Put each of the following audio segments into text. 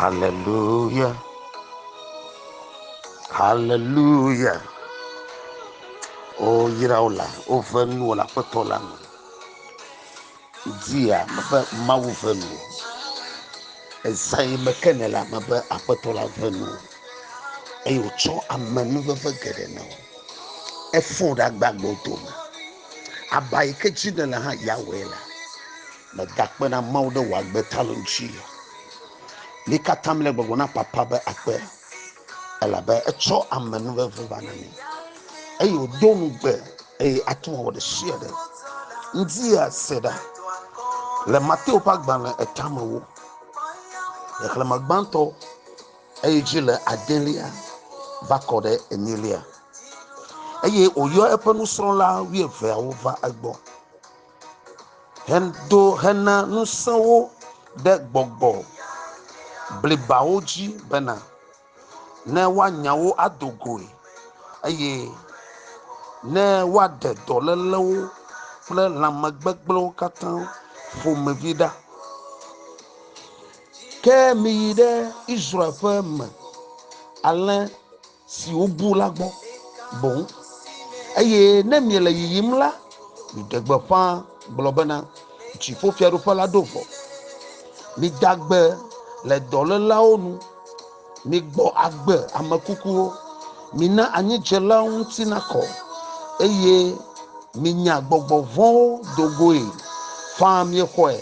Haleluya, haleluya. Woyra wo la, wove nuwo le Aƒetɔ la me. Dzia mebe Mawu ve nu. Ezai me ke ne la mebe Aƒetɔ la ve nu. Eye wotsɔ amenuveve geɖe na wo. Efɔ ɖe agbagbewo dome. Aba yi ke dzi nèle hã yeawɔe la, mègakpe na Mawu ɖe wò agbe ta lo ŋuti o. Mi katã mele gbɔgblɔm na Papa be akpe, elabe etsɔ ame nu veve va na mi, eye wòdo ŋugbe, eye ate ŋu awɔ ɖe sia ɖe ŋdi ase ɖa. Le Mateo ƒe agbalẽ etamewo, xexlẽme gbãtɔ. Eyi dzi le adelia va kɔ ɖe enyilia, eye wòyɔ eƒe nusrɔ̃la wuieveawo va egbɔ hedo hena ŋusẽ wo ɖe gbɔgbɔ blibawo dzi bena ne woanya wo ado goe eye ne woaɖe dɔlélewo kple lãmegbegblẽwo katã ƒomevi ɖa. Ke miyi ɖe Israel ƒe me alẽ siwo bu la gbɔ boŋ, eye ne miele yiyim la, miɖe gbeƒã gblɔ bena, Dziƒofiaɖuƒe la ɖo vɔ. Mida gbe le dɔlélawo nu, migbɔ agbe ame kukuwo, mina anyidzelawo ŋuti nakɔ, eye minya gbɔgbɔ vɔ̃wo do goe faa. Miexɔe.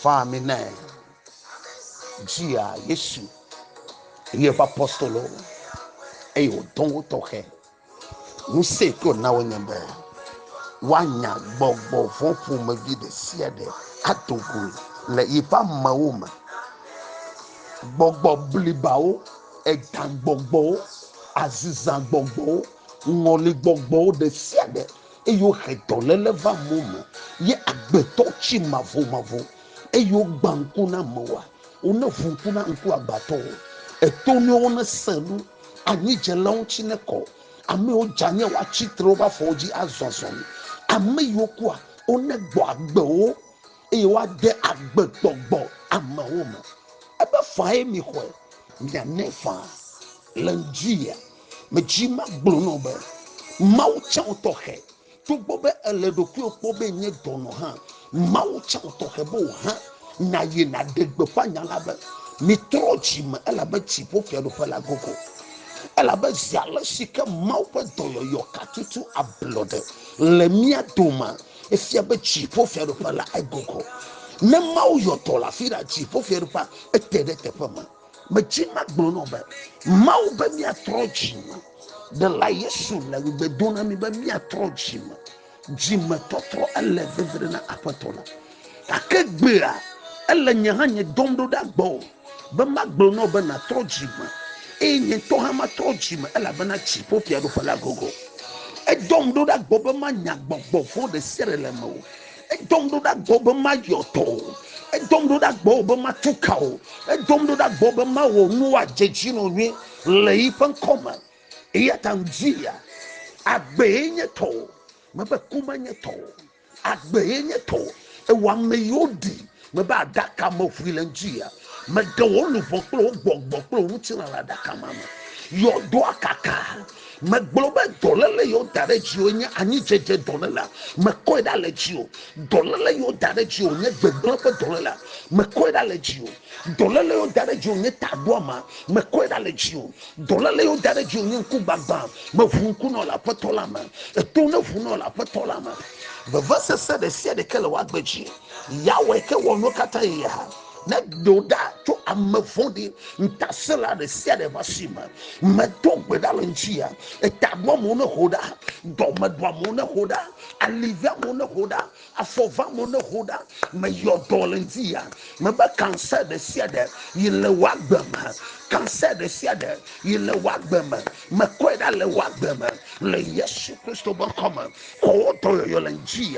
Faa ami nɛ. Dzia Yesu eye eƒe apostolo eye wòdɔ wo tɔxɛ. Ŋusẽ ke wòna wo nye be woanya gbɔgbɔ vɔ̃ ƒomevi ɖe sia ɖe ado go le yeƒe amewo me. Gbɔgbɔ blibawo, egagbɔgbɔwo, azizagbɔgbɔwo, ŋɔligbɔgbɔwo ɖe sia ɖe eye wohe dɔléle va amewo me, ye agbetɔ tsi mavomavo, eye wogbã ŋku na amewoa, woneʋu ŋku na ŋkuagbatɔwo, etonuiwo nesẽ nu, anyidzelawo ŋuti nekɔ, ame yiwo dzanye woatsi tre woƒe afɔwo dzi azɔ azɔli, ame yiwo kua, wonegbɔ agbe wo, eye woade agbegbɔgbɔ amewo me. Ebe faa ye mixɔe, mianɛ faa le ŋdziea? Medzi magblɔ nɔ be Mawu tsã tɔxɛ. Togbɔ be èle ɖokuiwò kpɔ be nye dɔnɔ hã, Mawu tsã tɔxɛ be wò hã nàyi nàɖe gbeƒã nya la be, Mitrɔ dzi me, elabe dziƒofiaɖuƒe la gogo. Elabe zi ale si ke Mawu ƒe dɔyɔyɔ katutu ablɔɖe le mía domea, efia be dziƒofiaɖuƒe la egogo. Ne Mawu yɔ dɔ le afi ɖea, dziƒofiaɖuƒea ete ɖe teƒe me. Medzi magblɔ nɔ be Mawu be miatrɔ dzime. Ɖela Yesu le ŋugbe do na mi be miatrɔ dzime. Dzimetɔtrɔ ele veviɖe na Aƒetɔ la. Gake gbea ele nye hã nye dɔm ɖo ɖa gbɔ be magblɔ nɔ be natrɔ dzime eye nye ŋutɔ hã matrɔ dzime elabena dziƒo fiaɖuƒe la gogo. Edɔm ɖo ɖa gbɔ be manya gbɔgbɔ vɔ̃ ɖe sia ɖe le me o. Edom ɖo ɖa gbɔ be mayɔ tɔ o. Edom ɖo ɖa gbɔ be matu ka o. Edom ɖo ɖa gbɔ be mawɔ nu wòadze dzi nɔ nyuie le yi ƒe ŋkɔ me. Eya ta ŋudzia, agbee nye tɔ o, mebe ku menye tɔ o. Agbee nye tɔ o. Ewɔ ame yiwo ɖi Mebe aɖaka me ʋui le ŋdzia. Meɖe wò luʋɔ kple wò gbɔgbɔ kple wò ŋutilã le aɖaka ma me. Yɔdoa kaka. Megblɔ be dɔléle yewo da ɖe dziwò nye anyidzedze dɔléle. Mekɔe ɖa le dziwò. Dɔléle yewo da ɖe dziwò nye gbegblẽ ƒe dɔléle. Mekɔe ɖa le dziwò. Dɔléle yewo da ɖe dziwò nye taɖoama. Mekɔe ɖa le dziwò. Dɔléle yewo da ɖe dziwò nye ŋkugbagbã. Meʋu ŋku nɔ le Aƒetɔ la me. Eto neʋu nɔ le Aƒetɔ la me. Vevesese ɖe sia ɖe ke le wò agbe dzi. Yahweh ke wɔ nu katã ye hã. Ne do ɖa tso ame vɔ̃ɖi ŋutasẽla ɖe sia ɖe ƒe asi me. Medo gbe ɖa le ŋutia. Eta ɖo amewo ne ho ɖa, dɔme ɖo amewo ne ho ɖa, ali ve amewo ne ho ɖa, afɔ ve amewo ne ho ɖa. Meyɔ dɔ le ŋutia. Mebe kansɛ ɖe sia ɖe yi le wò agbe me. Kansɛ ɖe sia ɖe yi le wò agbe me. Mekɔe ɖa le wò agbe me le Yesu Kristo ƒe ŋkɔ me. Kɔ wò dɔyɔyɔ le ŋuti.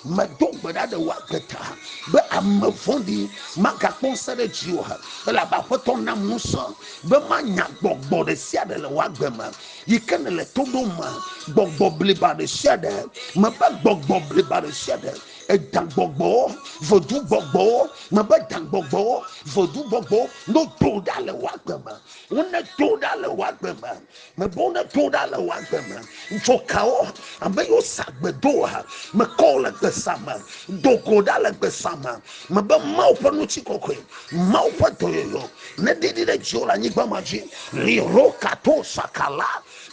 Medo gbe ɖa ɖe wò agbe ta be ame vɔ̃ɖi magakpɔ ŋusẽ ɖe dziwò o, elabe Aƒetɔ nam ŋusẽ be manya gbɔgbɔ ɖe sia ɖe le wò agbe me yi ke nèle to ɖom me, gbɔgbɔ bliba ɖe sia ɖe. Mebe gbɔgbɔ bliba ɖe sia ɖe, edagbɔgbɔwo, vodungbɔgbɔwo, mebe dagbɔgbɔwo, vodungbɔgbɔwo, nodo ɖa le wò agbe me, wonedo ɖa le wò agbe me, Mebɔ ne do ɖa le wò agbe me. Dzo kawo ame yiwo sa gbe doa? Mekɔ wò le gbesa me. Do go ɖa le gbesa me. Mebe Mawu ƒe ŋutikɔkɔe, Mawu ƒe dɔyɔyɔ neɖiɖi ɖe dziwò le anyigba ma dzi. Liro kato sakala,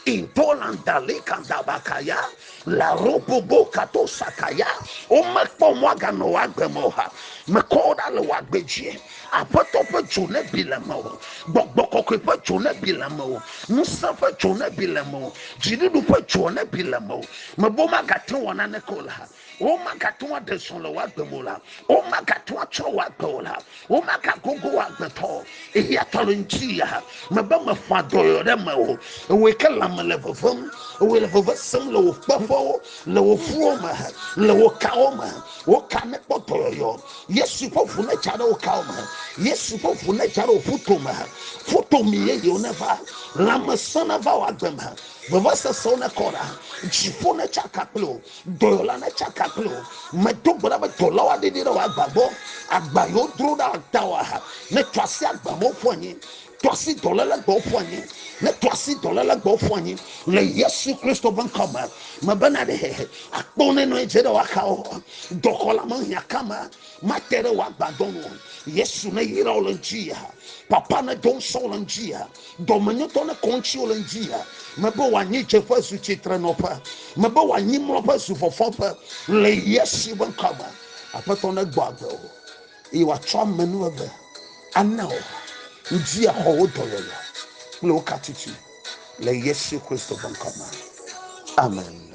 intolandali kandabakaya. La robobo kato sakaya. Womekpɔ mɔ aganɔ wò agbe me o ha. Mekɔ wò ɖa le wò agbe dzi. Aƒetɔ ƒe dzo ne bi le me o. Gbɔgbɔ kɔkɔe ƒe dzo ne bi le me o. Ŋusẽ ƒe dzo ne bi le me o. Dziɖuɖu ƒe dzo ne bi le me o. Mebe womagate ŋu awɔ naneke o la. Womagate ŋu aɖe zɔ le wò agbe me o la. Womagate ŋu atsrɔ̃ wò agbe o la. Womaka gogo agbetɔ eya tɔlɔ ŋuti ya mebe mefɔa dɔyɔ ɖe me o ewe ke lãme le vevem ewe le veve sem le wò kpeƒewo le wò ƒuwo me le wò kawo me wò ka ne kpɔ dɔyɔyɔ yesu ƒe ʋu ne dza ɖe wò kawo me yesu ƒe ʋu ne dza ɖe wò ƒuto me ƒuto mi ye yewo ne va lãme sɔ ne va wò agbe me veve sesewo ne kɔ ɖa dziƒo ne tsaka kple o Dɔyɔla na tsaka kple wo. Medo gbe ɖa be dɔlawo aɖee ɖi ɖe wò agba gbɔ. Agba yi wodro ɖa ata wò aha. Ne tɔ asi agba me woƒu anyi. Tɔ asi dɔléle gbe woƒu anyi. Ne tɔ asi dɔléle gbe woƒu anyi. Le Yesu Kristo ƒe ŋkɔ me, mebena ɖe akpɔ ne nɔ anyi dze ɖe wò axawo. Dɔxɔla me hiã ka ma mate ɖe wò agbadɔ nu o. Yesu ne yra wò le ŋuti ya. Papa ne do ŋusẽ wò le ŋuti ya. Dɔmenyotɔ ne kɔŋtsiwo le ŋdzia, mebe wòanyi dzeƒe zu tsitrenɔƒe, mebe wòanyi mlɔƒe zu fɔfɔƒe le Yesu ƒe ŋkɔ me. Aƒetɔ negbɔ agbe o, eye wòatsɔ ame nu eve ana wò. Ŋdi axɔ wò dɔyɔyɔ kple wò katiti le Yesu Kristo ƒe ŋkɔ me. Amen.